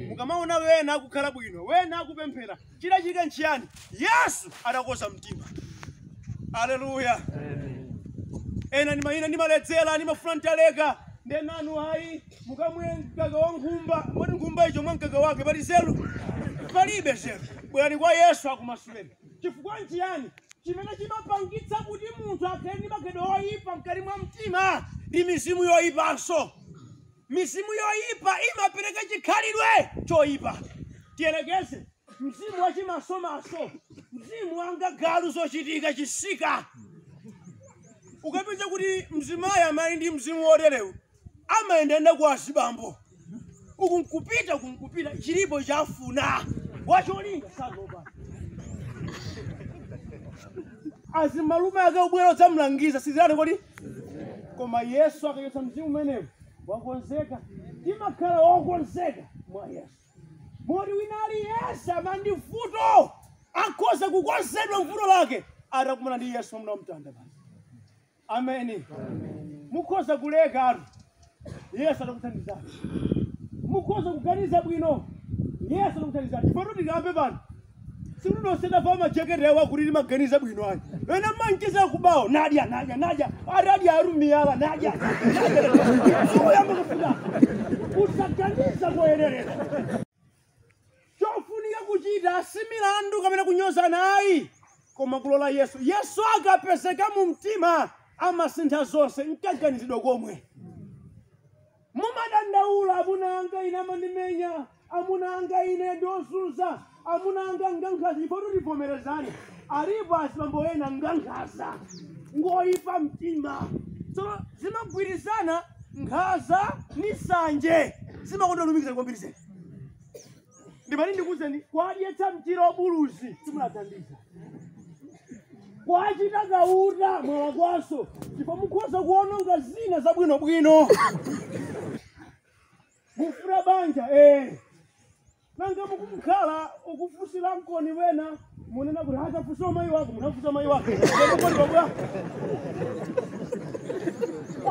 mukamaona wena akukhala bwino wena akupemphera chidachitika nchiyani yesu adakonza mtima aleluya ena ndima- ina ndimaledzera ndimafuna nditaleka ndenanu hayi mukamwe mkaka wa nkhumba oti nkhumba icho mwa mkaka wake pali nzeru palibe nzeru bwerani kwa yesu akumasuleni chifukwa nchiyani chimene chimapangitsa kuti munthu akhale ndi maganizo oyipa mkati mwa mtima ndi mizimu yoyipanso Mizimu yoipa imapereka chikhalidwe choipa. Tiyerekeze mzimu wa chimasomaso, mzimu wanga galu zochitika chisika. Ukapeza kuti mzimayi amali ndi mzimu woterewu amayendayenda kwa azibambo uku nkupita uku nkupita chilipo chomwe afuna wacholinga sakuopa azimalume ake kubwera kudzamlangiza sizirani kodi koma yesu akachotsa mzimu umenewo wakonzeka timakhala wokonzeka mwa yesu moti wina aliyense amene ali ndi vuto akhoza kukonzedwa mvuto lake atakumana ndi yesu mwamuna wamtanda basi ameni mukhoza kulekatu yesu atakuthandizani mukhoza kuganiza bwino yesu atakuthandizani ife tutikambe pano simunosenda pa majekete yawo akuti limaganiza bwino ayi ena manchiza kubawo nadya nadya nadya ari adya arumiyala nadya uyamba kufuna usaganiza koyenerera Chofunika kuchita si milandu kapena kunyozana ayi, koma kulola Yesu. Yesu akapezeka mu mtima amasintha zonse, nkaganizidwe komwe. Mumadandaula, amuna anga ine amandimenya, amuna anga ine ndi ozunza, amuna anga ngankhaza, ndipo tivomerezane. Alipo azibambo ena ngankhaza, ngoyipa mtima. Tsono zimagwirizana nkhaza ndi nsanje, zimakonda kulumikizana kwambiri zedi. ndimati ndikuuzeni kuwadyetsa mchira wabuluzi simunathandiza kuwachita kauta mwala kwaso ndipo mukhoza kuononga zina zabwinobwino mukufuna banja eh nanga mukukhala ukufunsira mkoni wena munena kuti atafunsa mai wako munafunsa mai wako emukolibabwa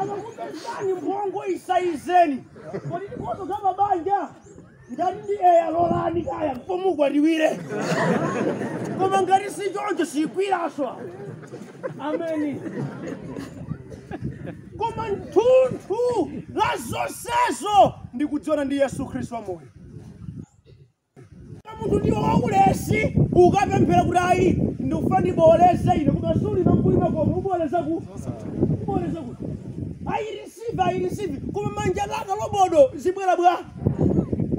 akakupezani mphongo isaizeni kodi ndikonzo za mabanja ngati ndi eya lolani kaya pomukwatiwire koma ngati si choncho sikwiranso ameni koma nthunthu la zonsezo ndikudziwana ndi yesu khristu wamoyo munthu ndiwe waulesi ukapemphera kuti ayi ndikufuna ndiboleze ine koma suli nakulima koma uboleza ku uboleza ku ayirisive ayirisive koma manja laka lobodo zibwere bwa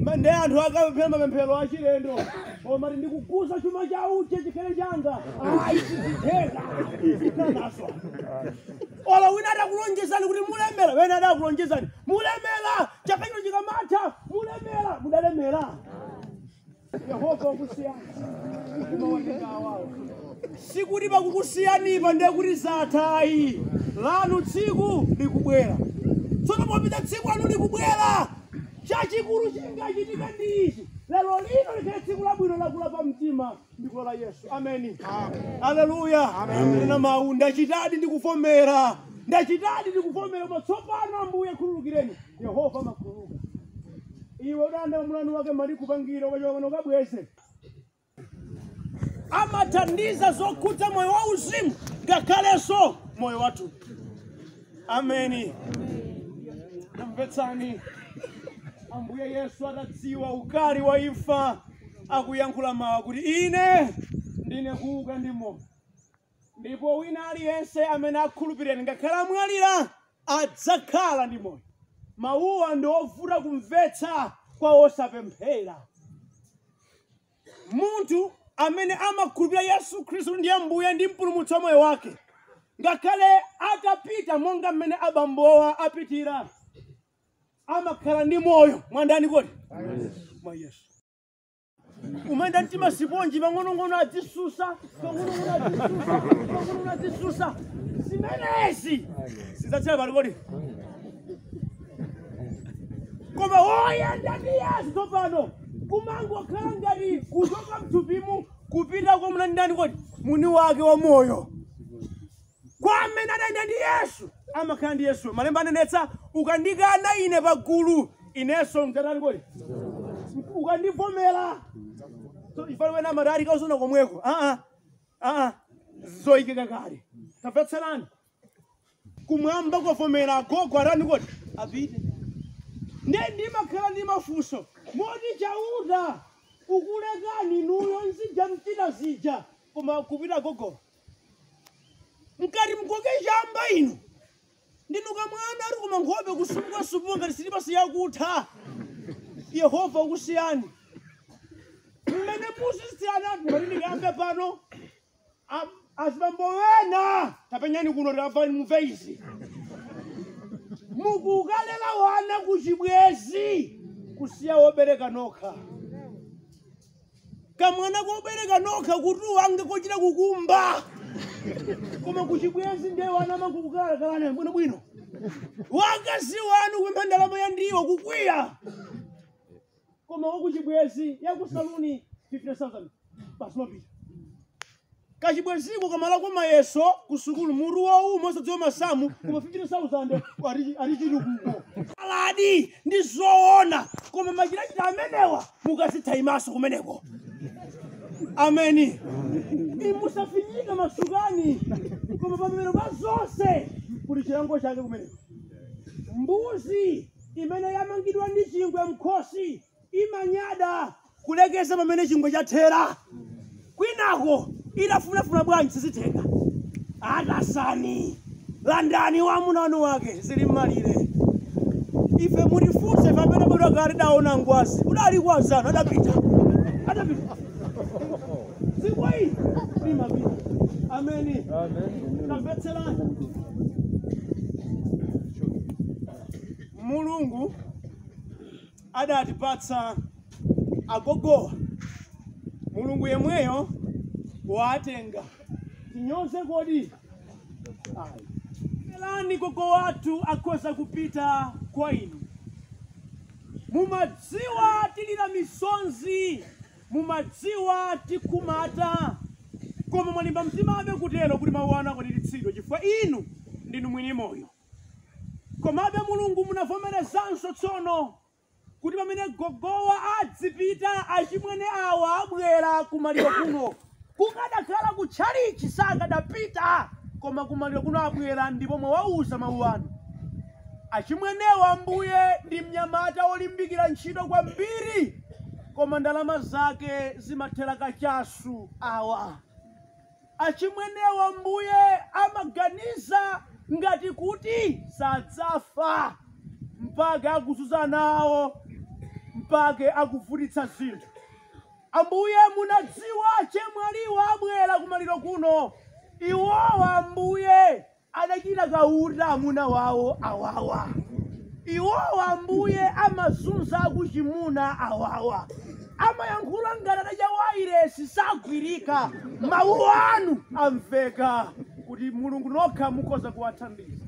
Ma- ndi anthu akapemphera mapemphero achilendo koma ati ndikuuza chuma cha uche chikhale changa ayi sizitheka sikanaswa ola wina adakulonjezani kuti mulemera wena adakulonjezani mulemera chaka chino chikamatha mulemera mudalemera yehova wakusiyani sikuti pakukusiyanipo ndiye kuti zathayi lanu tsiku likubwera tsono popeza tsiku lanu likubwera chachikulu chingachitike ndi ichi lero lino likhale tsiku labwino lakula pa mtima ndikufuna yesu ameni aleluya nena mawu ndachitadi ndikuvomera ndachitadi ndikuvomera koma tsopano ambuye khululukireni yehova amakhululuka iwe ulibenso mlandu wake akupangire ukachokana ukabweze amathandiza zokhudza moyo wauzimu ngakhalenso moyo wathu ameni tamvetserani ambuye yesu atadziwa ukali wa imfa akuyankhula mawu kuti ine ndine kuuka ndi moyo ndipo wina aliyense amene akhulupirira ngakhale amwalira adzakhala ndi moyo mawuwa ndi ovuta kumvetsa kwa osapemphera Munthu amene amakhulupirira Yesu Khristu kuti ndi Ambuye ndi mpulumutsi wa moyo wake, ngakhale atapita monga mmene abambowa apitira, amakhala ndi moyo mwa ndani kodi mwa Yesu. Umayenda mtima siponji pang'onong'ono adzisusa, pang'onong'ono adzisusa, pang'onong'ono adzisusa. Zimenezi zidzatsala pati kodi koma woyenda ndi yesu tsopano kumangokhala ngati kuchoka mthupimu kupita kwa ndani ndani kodi mwini wake wa moyo kwa amene adayenda ndi yesu amakhala ndi yesu malemba anenetsa ukandikana ine pagulu inenso ndidzatani kodi ukandivomera So, ifalo wena amatali kazaona komweko aa aa zoyikika kale tamvetserani kumwamba kwavomera agogo atani kodi apite nde ndimakhala ndi mafunso moti chauta wakulekani inuyo muzija mchita zija koma kupita gogowa mkati mkoke chamba inu ndinuka mwana ati koma nkhope kusupuka supuka ngati silipasi yakutha yehova wakusiyani mmene musisiyana ati mari ndikayambe pano A- azibambo wena tapenyani kuno tamvani mumve izi mukukalela wana kuchibwezi kusiya wobereka nokha kamwana kobereka nokha kutuwa ngati kochita kukumba koma kuchibwezi ndiye wana mukukalela bwino bwino wakazi wanu kupempha ndalama ya ndiwo kukwiya koma wakuchibwezi yakusaluni 50000 basi mapita kachibweziko kamalakwa mayeso kusukulu mutu wouma wosadziwa masamu koma 50000 ari- ari chitukuko aladi ndi zoona koma machitachita amenewa mukazitha imaso kumeneko ameni musafinyike masukani koma pamapeto pa zonse kuli chilango chake kumeneko mbuzi imene yamangidwa ndi chingwe mkhosi imanyada kulekeza pamene chingwe chathera kwinako itafunafuna bwanji sizitheka atasani landani wamuna wanu wake zili mmalire ife mutifunse ife amene tidabadwa kale tidaona ngwazi udali kwazana adapita adapita dziko ili limapita ameni tamvetserani Mulungu adatipatsa agogowa, Mulungu yemweyo watenga. Tinyoze kodi? Ayi. Elani gogo wathu akhoza kupita kwa inu. Mumadziwa tilira misonzi, mumadziwa tikhumata, koma mwalimba mtimabe kutero kuti mawu anu akwaniritsidwe chifukwa inu ndinu mwini moyo. Komabe, Mulungu munavomerezanso tsono kuti pamene gogowa adzipita, achimwene awa abwera kumaliro kuno. Kukadakhala ku tchalitchi sakadapita, koma kumaliro kuno abwera ndipo mwawauza mawu anu. Achimwenewa, Ambuye, ndi mnyamata wolimbikira ntchito kwambiri, koma ndalama zake zimathera kachasu. Awa Achimwenewa Ambuye amaganiza ngati kuti sadzafa mpake akuzuza ana awo mpake akuvutitsa zinthu. Ambuye munadziwa chemwaliwa abwera kumaliro kuno iwowa Ambuye adachita kaunda amuna wawo awawa iwowo ambuye amazunza akuchimuna awawa amayankhula ngati adadya wailesi sagwirika mawu anu amveka kuti mulungu nokha mukhoza kuwathandiza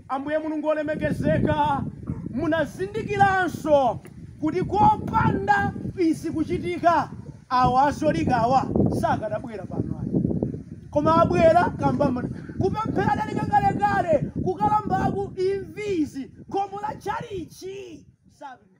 ambuye mulungu olemekezeka munazindikiranso kuti kopanda izi kuchitika awa akatolika awa sakanabwera pano ayi koma abwera kamba kupemphera analeka kalekale kukalambaku imvizi khomo la tchalitchi sapita